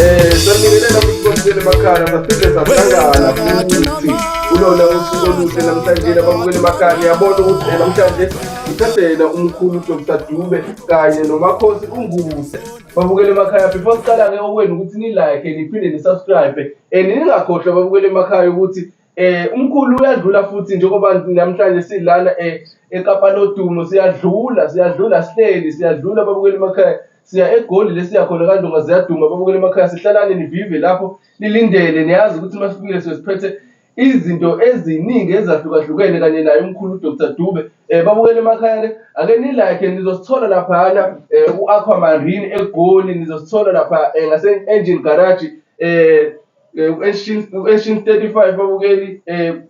Eh, sanibingelela kusikhonzile emakhaya saphinde sahlangana futhi kulona usuku oluhle namhlanje ababukeli emakhaya ngiyabona ukuthi eh, namhlanje ngithathela umkhulu Dr Dube kanye nomakhosi uNguse babukele emakhaya before siqala-ke okwenu ukuthi ni-like niphinde ni-subscribe and eh, ningakhohlwa babukele emakhaya ukuthi Eh umkhulu uyadlula futhi njengoba namhlanje silana eh eKapa lodumo siyadlula siyadlula sihleli siyadlula babukeli emakhaya siya egoli lesiya khona kandonga ziyaduma babukeli emakhaya sihlalane nivive lapho lilindele niyazi ukuthi uma sifikile sesiphethe izinto eziningi ezahlukahlukene kanye naye umkhulu uDr Dube eh babukele emakhaya ke ake ni like nizosithola laphana eh, uAquamarine eGoli nizosithola lapha eh, ngase Engine Garage eh Eh, u-Eshin 35 babukeli um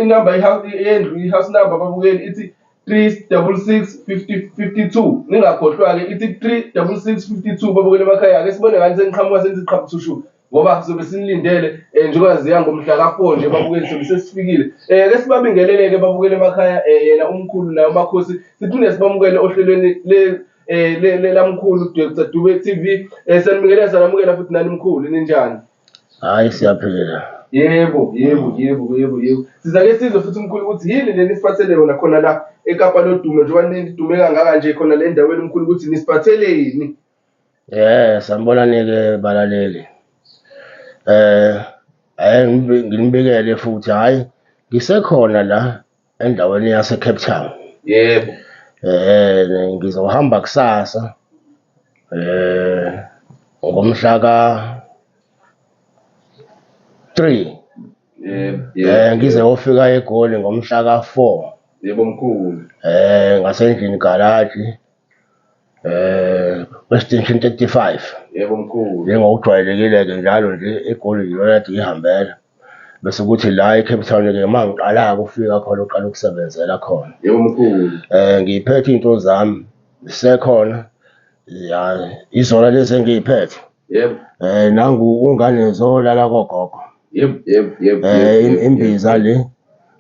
inamba yendlu i-house number babukeli ithi 36652 ningakhohlwa-ke ithi 36652 babukeli emakhaya ake sibone ngani seniqhamuka senza iqhabuthushu ngoba sizobe sinilindele um njengoba ziya ngomhla ka-four nje babukeli sobe sesifikile um ke sibabingelele-ke babukeli emakhaya um yena umkhulu naye umakhosi siphinde sibamukele ohlelweni Eh le le lamkhulu Dr Dube TV eh sanibingelela sanamukela futhi nani mkhulu ninjani? Hayi siyaphila. Yebo, yebo, yebo, yebo, yebo. Sizake sizwe futhi mkhulu ukuthi yini le nisipathele yona khona la eKapa lodumo njengoba nidume kangaka nje khona le ndaweni mkhulu ukuthi nisiphatheleni. Eh sanibona nike balaleli. Eh ayi nginibikele futhi hayi ngisekhona la endaweni yaseCape Town. Yebo. Eh ngizohamba kusasa. Eh ngomhla ka 3. Yebo. Eh ngize ofika eGoli ngomhla ka 4. Yebo mkhulu. Eh ngasendlini garage. eh kweStation 35 yebo mkhulu njengokujwayelekile-ke njalo nje eGoli yilona kade ngihambela bese kuthi la eCape Town-ke uma ngiqala-ke ukufika khona uqala ukusebenzela khona yebo mkhulu eh ngiyiphethe iy'nto zami zisekhona ya izona lezi engiy'phethe. Yebo. Eh nangu ungane zolala kogogo. Yebo, yebo, yebo. Eh yebo, im- yebo, imbiza le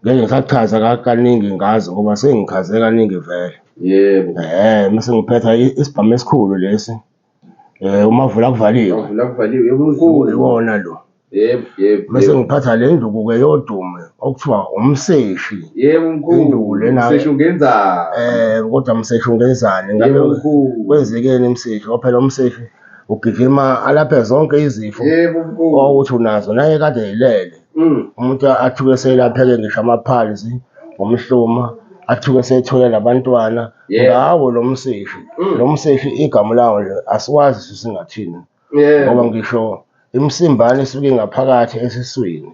ngeke ngisachaza ka- kaningi ngazi ngoba sengichaze kaningi vele. Yebo. Eh mase ngiphetha i- isibhamu esikhulu lesi. Eh umavula kuvaliwe. Wavula kuvaliwe yebo unkulu. Iwona lo. Yebo, yebo. Mase yebo. ngiphatha le nduku ke yodume okuthiwa umseshi. Yebo mkhulu. Induku lena. Mseshi ungenzani? Eh kodwa mseshi ungenzani? Ngabe Yebo mkhulu. kwenzekeni mseshi? Ngoba phela umseshi ugijima alaphe zonke izifo Yebo mkhulu. owuthi unazo naye kade elele. Mm. Umuntu athuke selapheke ngisho amaphalzi ngomhluma athuke sethole labantwana Yebo. ngawo lo mseshi. Mm. Lo mseshi igama lawo nje asiwazi sisingathini. ngoba ngisho imsimbane esuke ngaphakathi esiswini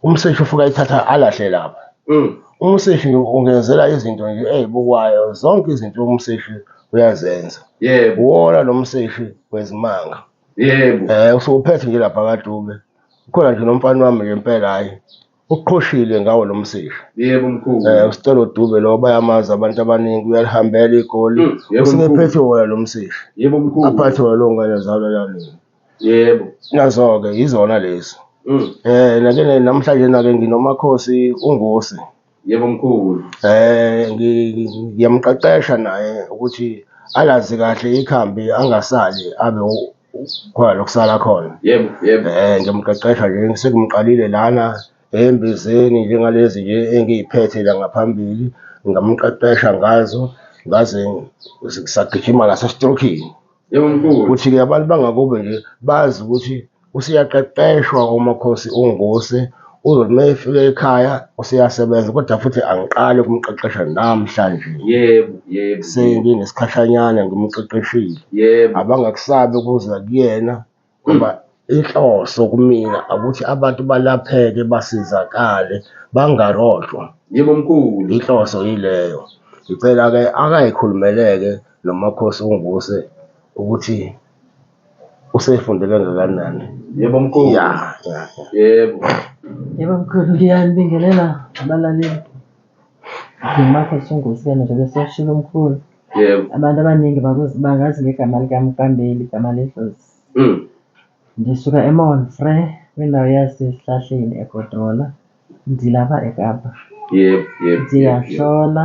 umseshi ufuka ithatha alahle lapha mm. umseshi ungenzela izinto nje ey'bukwayo zonke izinto umseshi uyazenza yebo wona lo mseshi wezimanga yebo um eh, usukuphethe nje lapha kadube ukhona nje nomfana wami ngempela hhayi uqhoshile ngawo lo msisha yebo mkhulu eh usicelo dube lo bayamazi abantu abaningi uyalihambela igoli hmm, usingephethe wona lo msisha yebo mkhulu aphathe wona lo ngane zalo lami yebo nazo ke izona lezi hmm. eh nake namhlanje nake nginomakhosi ungosi yebo mkhulu eh ngiyamqeqesha naye ukuthi alazi kahle ikhambi angasali abe khona lokusala khona yebo yebo um ngiyomqeqesha nje sekumqalile lana embizeni njengalezi nje engiyiphethe la ngaphambili ngamqeqesha ngazo ngaze sagijima nasestrokini yebo mkhulu ukuthi-ke abantu bangakubo nje bazi ukuthi useyaqeqeshwa umakhosi ungose uzothi uma efika ekhaya useyasebenza kodwa futhi angiqali ukumqeqesha namhlanje yebo yebo senginesikhashanyana ngimqeqeshile yebo abangakusabi ukuza kuyena ngoba inhloso kumina ukuthi abantu balapheke basizakale bangarojwa yebo mkhulu inhloso yileyo ngicela-ke akayikhulumeleke nomakhosi unguse ukuthi Usefunde kangakanani? Yebo mkhulu. Ya, ya, ya. Yebo. Yebo mkhulu, ngiyanibingelela abalaleli. Ngimakho Sungusi kena njengoba eseshilo umkhulu. Yebo. Abantu abaningi bakuzi- bangazi ngegama likamkambeli, igama ledlozi. Mm. Ngisuka eMonfre, kwindawo yaseSihlahleni eGodola. Ngilapha eKapa. Yebo, yebo. yebo, yebo. Ngiyahlola.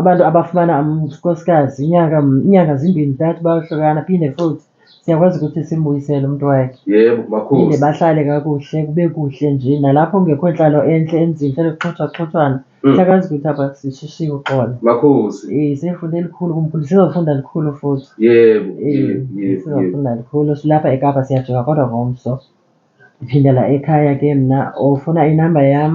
Abantu abafumana unkosikazi inyanga inyanga zimbini ntathu bayohlukana phinde futhi siyakwazi ukuthi simbuyisele umuntu wakhe. Yebo Phinde makhosi. bahlale kakuhle kube kuhle nje nalapho kungekho nhlalo enhle emzini hlale kuxhothwaxhothwana. Mm. Siyakwazi ukuthi apha sishishike uxolo. Makhosi. Eh sefunda elikhulu kumkhulu sizofunda likhulu futhi. Yebo. Eh Yebo. Yebo. Yebo. sizofunda likhulu silapha eKapa siyajika kodwa ngomso. Phindela ekhaya ke mna ofuna inamba yam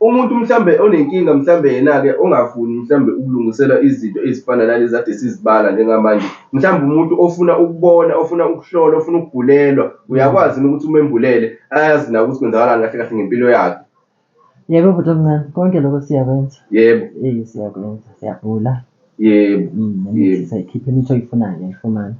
Umuntu mhlambe onenkinga mhlambe yena-ke ongafuni mhlambe ukulungiselwa izinto ezifana nalezi ade sizibala njengamanje mhlambe umuntu ofuna ukubona ofuna ukuhlola ofuna ukugulelwa uyakwazi yini ukuthi umembulele ayazi na ukuthi kwenzakalani kahle kahle ngempilo yakhe Yebo bhuti omncane, konke lokho siyakwenza. yebo Eh siyakwenza, siyabhula. yebo Mm, Yebo. nemithi sayikhipha imithi oyifunayo uyayifumana.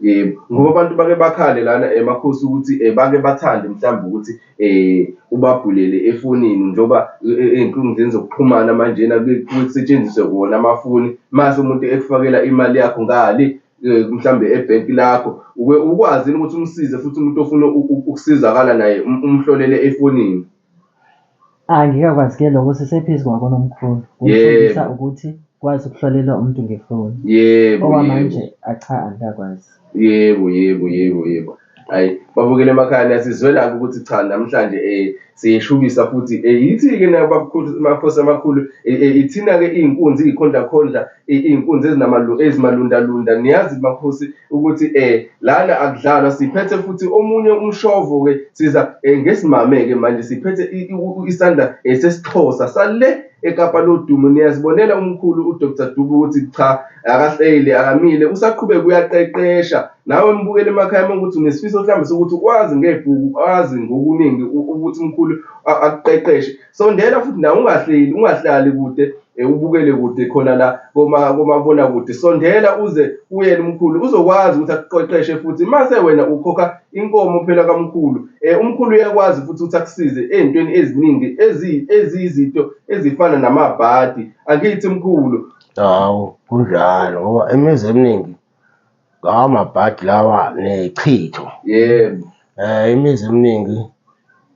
Yebo, ngoba abantu bake bakhale lana emakhosi eh, ukuthi eh, bake bathande mhlawumbe ukuthi eh, ubabhulele efonini njengoba eh, ey'nkundleni zokuxhumana manjena kusetshenziswe wona amafoni mase umuntu ekufakela imali yakho ngale mhlawumbe ebhenki lakho ukwazini ukuthi umsize futhi umuntu ofuna ukusizakala naye um, umhlolele efonini Angikakwazi ke lokho sisephezulu kwakonomkhulu kufundisa Yebo. ukuthi kwazi ukuhlolela umuntu ngefoni yebo owa yebo manje acha angikakwazi yebo yebo yebo yebo ayi babukele emakhaya niyasizwelaka ukuthi cha namhlanje eh siyeshubisa futhi eh yithi-ke nayo babukhosi amakhosi amakhulu eh, eh, ithina-ke iy'nkunzi iy'khondlakhondla iy'nkunzi ezimalundalunda niyazi makhosi ukuthi um lana akudlalwa siphethe futhi omunye umshovo-ke siza um ngesimame-ke manje siphethe isandla um sesixhosa sale ekapa lodumo niyazibonela umkhulu udr dubu ukuthi cha akahleli akamile usaqhubeka uyaqeqesha nawe mbukele emakhaya uma ukuthi unesifiso mhlawumbe sokuthi ukwazi ngebhuku wazi ngokuningi ukuthi umkhulu akuqeqeshe sondela futhi nawe ungahleli ungahlali kude eh, ubukele kude khona la komabona kude sondela uze kuyena umkhulu uzokwazi ukuthi akuqeqeshe futhi mase wena ukhokha inkomo phela kamkhulu eh, umkhulu uyakwazi futhi ukuthi akusize ezintweni eziningi eziyizinto ezifana namabhadi angithi mkhulu hawu kunjalo ngoba imizi eminingi Ngawo amabhadi lawa nechitho. Yebo. Eh imizi eminingi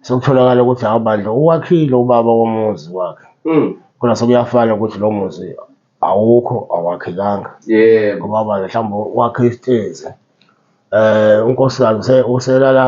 sekutholakala ukuthi hawu bandla uwakhile ubaba womuzi wakhe. Mm. Khona sekuyafana ukuthi lo muzi awukho awakhekanga. Yebo. Ngoba bandla mhlawumbe wakhe isitezi. Eh unkosikazi uselala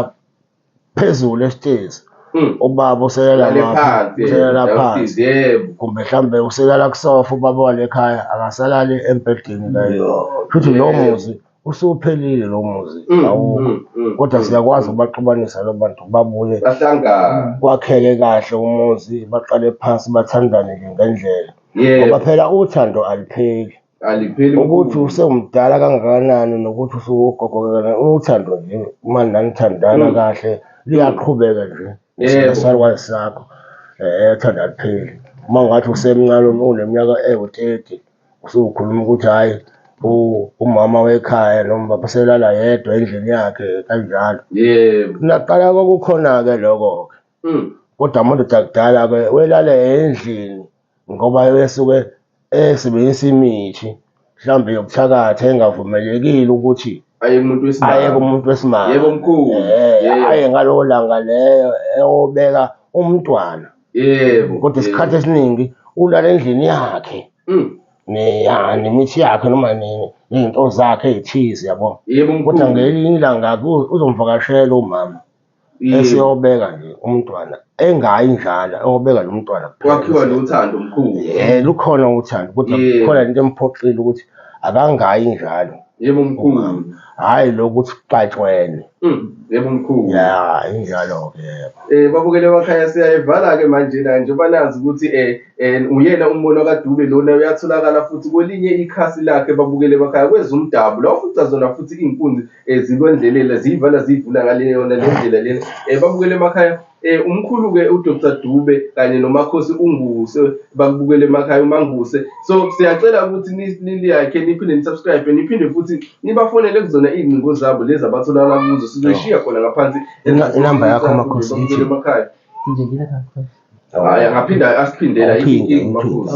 phezulu esitezi Mm. ubaba usekela Lale ngapha, phansi, usekela yebo, phansi sis, yebo. kumbe mhlawumbe usekela kusofa ubaba wale khaya akasalali embhedeni la Yo, futhi lo yebo. muzi usuphelile lo muzi Mm, awukho mm, mm, kodwa mm, siyakwazi mm. ukubaxubanisa lo bantu babuye bahlangana kwakheke kahle umuzi baqale phansi bathandane ke ngendlela ngoba yebo phela uthando alupheli alipheli ukuthi usewumdala kangakanani nokuthi usuwogogo kangakanani uthando nje uma nanithandana Mm. kahle liyaqhubeka nje Yebo. isalukazi sakho um thanda lipheli uma ngathi usemncane um- uneminyaka ewu-thirty usukhuluma ukuthi hhayi u- umama wekhaya noma baba selala yedwa endlini yakhe kanjalo yebo naqala kwakukhona-ke lokho-ke Mm. Kodwa amadoda akudala-ke welala endlini ngoba esuke esebenzisa imithi mhlawumbe yobuthakathi engavumelekile ukuthi aye kumuntu wesimame aye kumuntu wesimame yebo mkhulu eh, aye ngalowo langa leyo eyobeka umntwana yebo kodwa isikhathi esiningi ulala endlini yakhe mm. nemithi yakhe noma nini nezinto zakhe ey'thize yabo kodwa ngelinye ilanga uzomvakashela umama esiyobeka nje umntwana engayi njalo eyobeka lo mntwana kwakhiwa nothando mkhulu eh lukhona uthando kodwa khona into emphoxile ukuthi akangayi njalo yebo mkhulu hayi lokuthi kuxatshwene mm, yebo mkhulu ya injalo ke yebo eh babukele wakhaya siyayivala ke manje na nje banazi ukuthi eh, eh uyena umbono kaDube lona uyatholakala futhi kwelinye ikhasi lakhe babukele wakhaya kwezumdabu la ufuca zona futhi inkunzi eh, zikwendleleni ziyivala ziyivula ngaleyona le ndlela lena um babukele emakhaya um umkhulu-ke udr dube kanye nomakhosi unguse bakubukele emakhaya umanguse so siyacela ukuthi niliyakhe niphinde nisubscribe niphinde futhi nibafonele kuzona iy'ngcingo zabo lezi abatholakala kuzo sizoyishiya khona ngaphansi inamba yakho makhosi emakhaya hhayi angaphinde asiphindela imakhosi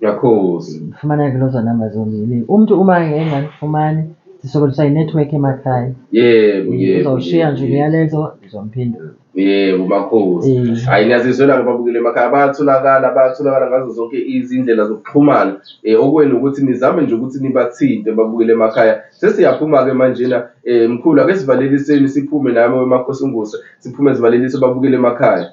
Yakhozi. Fumana ke lozo namba zombili. Umntu uma engangifumani sisokoliswa yi-network emakhaya. Yebo, yebo. Uzawushiya nje umyalezo ndizomphendula. Yebo makhosi. Hayi ngiyazizwela ke babukele emakhaya bayatholakala bayatholakala ngazo zonke izindlela zokuxhumana. Eh okwenu ukuthi nizame nje ukuthi nibathinte babukele emakhaya. Sesiyaphuma ke manjena eh mkhulu ake sivaleliseni siphume nami wemakhosi unguse siphume sivalelise babukele emakhaya.